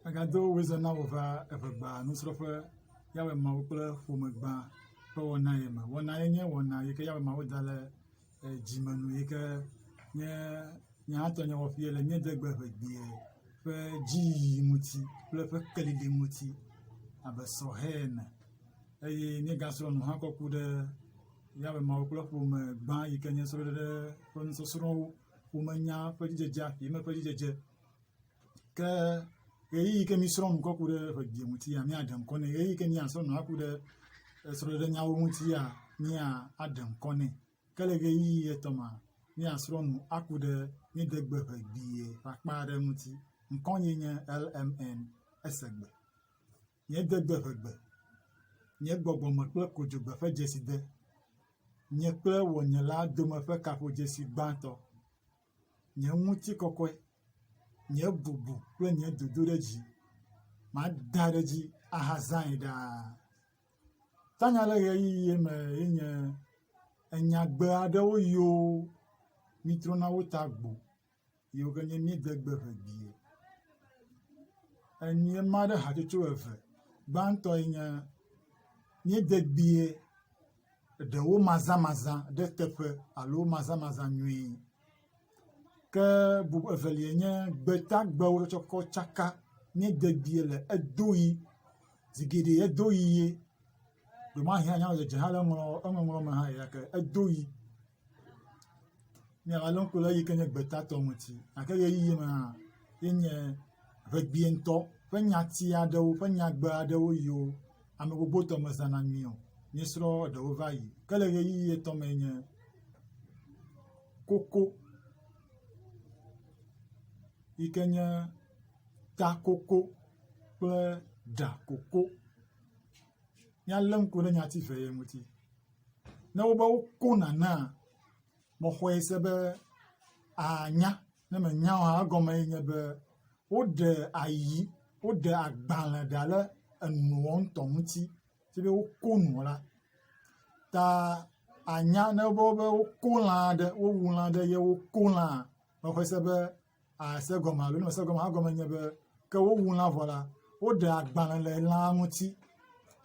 Megado wezã na wò va eve gbã nusrɔ̃ƒe Yawe Mawu kple ƒome gbã ƒe wɔna ye me. Wɔna ye nye wɔna yi ke Yawe Mawu da ɖe eh, dzime nu yi ke nye nye hã tɔnye wɔƒee le míedegbe ʋegbee ƒe dziyiyi ŋuti kple ƒe kelili ŋuti abe sɔhɛ ene eye míegasrɔ̃ nu hã kɔ ku ɖe Yawe Mawu kple ƒome gbã yi ke nye srɔ̃ɖeɖe ƒe nusɔsrɔ̃wo womenya ƒe dzidzedzea, yeme ƒe dzidzedze. Ke ʋeyiʋi ke mi srɔ̃ nu kɔ ku ɖe ƒe geɖe ŋuti ya miaɖe ŋkɔ nɛ. Ʋeyiʋi ke mia srɔ̃ nu aku ɖe esrɔ̃ɖeɖe nyawo ŋuti ya mia aɖe ŋkɔ nɛ. Ke le ʋeyiʋi etɔ̃ ma mia srɔ̃ nu aku ɖe mi degbe ƒe gbie ƒe akpa aɖe ŋuti. Ŋkɔ nye nye LMN esegbe. Nye dodoeʋegbe, nye gbɔgbɔme kple kodzogbe ƒe dzeside, nye kple wɔnyela dome ƒe kaƒodzesi gbãtɔ, nye ŋutikɔkɔe, nye bubu kple nye dodo ɖe dzi, mada ɖe edzi ahazãe ɖaa. Tanya le ɣeyiɣie me ye nye enyagbe aɖewo yoo mitrɔna wo ta gbo yiwo ke nye mídegbe ŋe bie. Enyia ma ɖe hatsotso eve. Gbãtɔ ye nye mídegbie ɖewo mazamaza ɖe teƒe alo mazamaza nyui ke bub evelia nye gbetagbewo ɖe tsɔ kɔ tsaka mídegbie le edo ʋi zi geɖe edo ʋi ye. Ɖewo hã nya le dzedze hã le eŋɔŋlɔ eŋɔŋlɔ me hã yi ɖake edo ʋi. Míagalé ŋku ɖe eyi ke nye gbeta tɔ ŋuti. Gake ʋeyiʋi me hã ye nye ʋegbee ŋutɔ ƒe nyati aɖewo ƒe nyagbe aɖewo yiwo ame gbogbo tɔ mezãna nyui o. Míesrɔ̃ eɖewo va yi. Ke le ʋeyiʋi etɔ̃ mee nye koko yi ke nye ta koko kple ɖa koko. Míalé ŋku ɖe nyati eve ye ŋuti. ne wobe woko nanea, mexɔe se be ànya, ne mènya oa, egɔme ye nye be woɖe ayi, woɖe agbalẽ ɖa ɖe enuɔ ŋutɔ ŋuti, si be woko nuɔ la, ta ànya ne wobe woko lã aɖe, wowu lã aɖe ye woko lãa, mexɔe se be. ase gɔme alo ne mese gɔme o egɔme nye be ke wowu lã vɔ la, woɖe agbalẽ le lã ŋuti.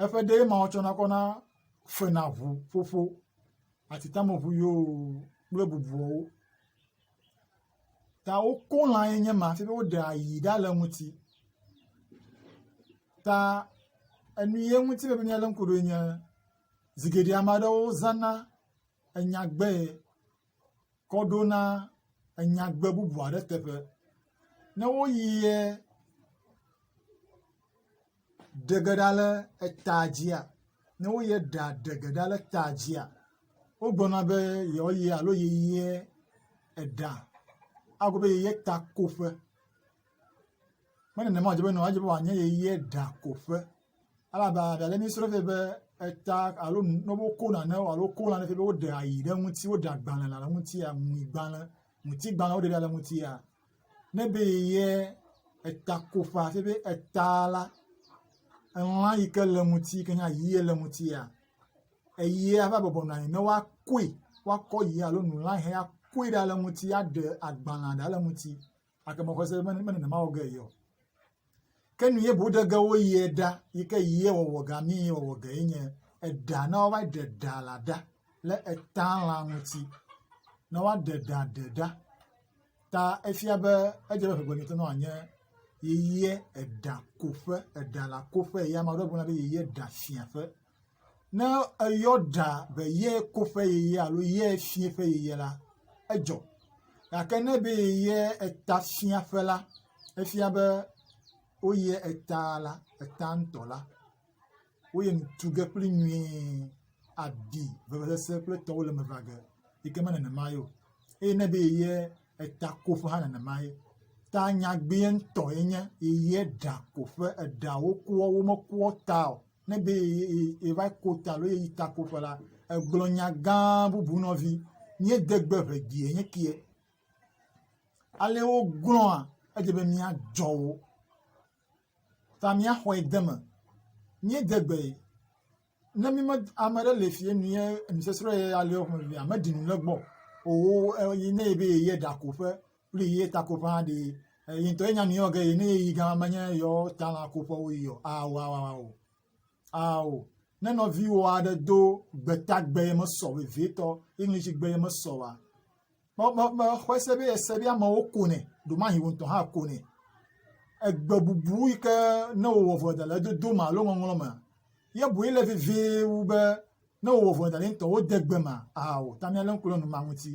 Eƒe ɖee ma wotsɔna kɔ na fena ŋu ƒoƒo, atitameŋu yoo kple bubuawo. Ta woko lã ye nye ma hafi be woɖe ayi ɖa le eŋuti. Ta enu ye ŋuti mele be míalé ŋku ɖo enye zigidi ame aɖewo zãna enyagbee kɔ ɖo na enyagbe bubu aɖe teƒe. Ne woyi yɛ ɖe ge ɖa le etaa dzia, ne wo yɛ ɖa ɖe ge ɖa le etaa dzia, wogblɔna be yewo yɛ alo yi yɛ eɖa agblɔ be yi yɛ takoƒe. Menema o, edze be nɔ edze be wòanye yi yɛ ɖakoƒe. elabe ɖe le mí srɔ̃ vɛ be eta alo ne woko nane alo woko nane vɛ be woɖe ayi ɖe ŋuti woɖe agbalẽ le ŋutia ŋui gbalẽ ŋuti gbalẽ woɖe ɖe ŋutia ne be yeyɛ eta koƒa fie be eta la elã yi ke le ŋuti yi ke nye ayie le ŋutia eyia va bɔbɔ nɔ anyi ne woakoe woakɔ yia alo nu la hɛ akoe ɖa le ŋuti aɖe agbalẽ ɖa le ŋuti. gake mexɔ se be mene nenema wɔ ge ye o. Ke nu ye boɖe ge wo yie ɖa yi ke yie wɔwɔ ga mi yie wɔwɔ ge ye nye eɖa na wo va ɖe ɖa la ɖa le eta la ŋuti na wa ɖe ɖa ɖe ɖa ta efia be edze be ƒegbe ŋutɔ nɔ anye yeye eɖa koƒe eɖa la koƒe ye ame aɖewo gblɔna be yeye ɖa fia ƒe. Ne eyɔ ɖa be ye koƒe yeye alo ye fiẽƒe yeye la, edzɔ. Gake ne be ye etafiaƒe la, efia be woyie eta la, eta ŋutɔ la, woyie tu ge kpli nyuie, aɖi vevesese kple etɔwo le eme va ge. Yi ke me nenema ye o. Eye ne be yeye etakoƒe hã nenema ye. Ta nyagbee ŋutɔ ye nye, yeye ɖakoƒe, eɖawo koa, womekoa ta o. ne be yeva ko ta alo yeyi takoƒe la, egblɔ nya gã bubu nɔvi, míede gbe ŋe gie nye kie. Ale wogblɔa, edze be míadzɔ wo ta míaxɔe de eme. Míede gbe ne míme ame aɖe le fie nue nusɔsrɔ̃ ye aleo ƒe nuvia meɖi nu le egbɔ o. Eye ne ebe yeyi ɖakoƒe kpli ye ta koƒe hã ɖee eyi ŋutɔ enya nu yɔ ge ne yeyi gã menye yewo ta la koƒe woyi o ao ao ao ao ne nɔviwò aɖe do gbetagbe ye mesɔ vevietɔ english gbe ye mesɔ wa me me me xɔe se be ese be amewo konɛ ɖomahi wò ŋutɔ hã konɛ egbe bubu yi ke ne wòwɔ vɔ da le edodo me alo ŋɔŋlɔ me ye boe le vevie wu be ne wòwɔ vɔ da le ŋutɔ wode gbe me ao ta míalé ŋku ɖe numa ŋuti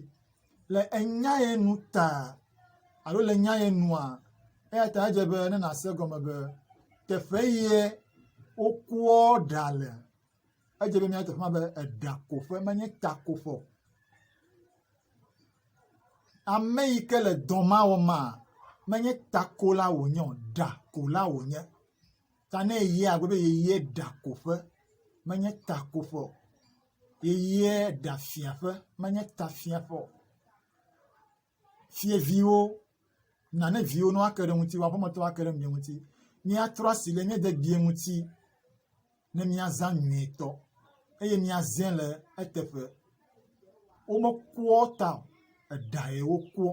le enya ye nu ta alo le enya ye nua, eya ta edze be ne nàse gɔme be teƒe ye wokoɔ ɖa le. Edze be míate ŋu agblɔ be eɖakoƒe menye takoƒe o. Ame yi ke le dɔ ma wɔm maa, menye takola wònye o, ɖakola wònye. ta ne yeyia agblɔ be yeyie ɖakoƒe menye takoƒe o, yeyie ɖafiaƒe menye tafiaƒe o. Fiyeviwo, na ne viwo ne woake ɖe ŋutiwò aƒemetɔwo ake ɖe mia ŋuti. Míatrɔ asi ɖe mía dede ŋuti ne míazã nyuietɔ eye míazẽ le eteƒe. Womekua ta o, eɖae wokua.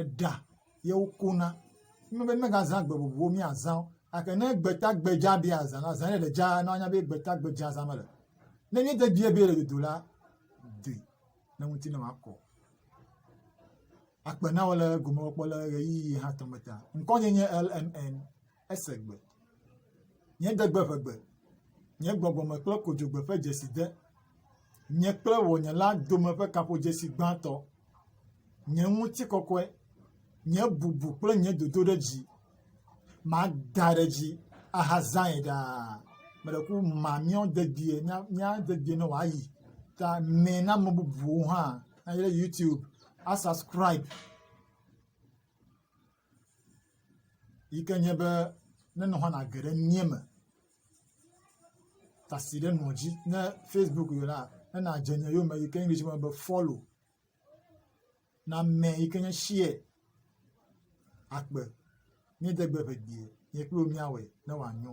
eɖa ye wokona. Wonye be míegazã gbe vovovowo míazã wo gake ne gbeta gbe dzaa be yeazã la zã ye le dzaa na woanya be gbeta gbe dzaa zãm ele. Ne míede dzie be yele dodo la doe ne ŋuti ne wòakɔ. Akpe na wò le egomekpɔkpɔ le ɣeyiɣi hatɔ me ta. Ŋkɔnye nye LMN. Ese gbe. Nye degbe ʋe gbe. Nye gbɔgbɔ me kple kodzogbe ƒe dzesi de. Nye kple wò nye la dome ƒe kaƒodzesi gbãtɔ. Nye ŋutikɔkɔe. Nye bubu kple nye dodo ɖe dzi. Mada ɖe dzi ahazãe ɖaa. Meɖe ku ma míɔ dedie mía mía dedie ne wòayi. Ta mɛ na ame bubuwo hã. Ayi ɖe YouTube. Asubscribe. yi ke nye be ne nɔƒe nage ɖe mía me tasi ɖe nɔ dzi ne facebook yɔ la ne nadze nye yome yi ke english me be follow name yi ke nye share akpe míede gbe ʋe die nye kple wò míawɔe ne wòanyo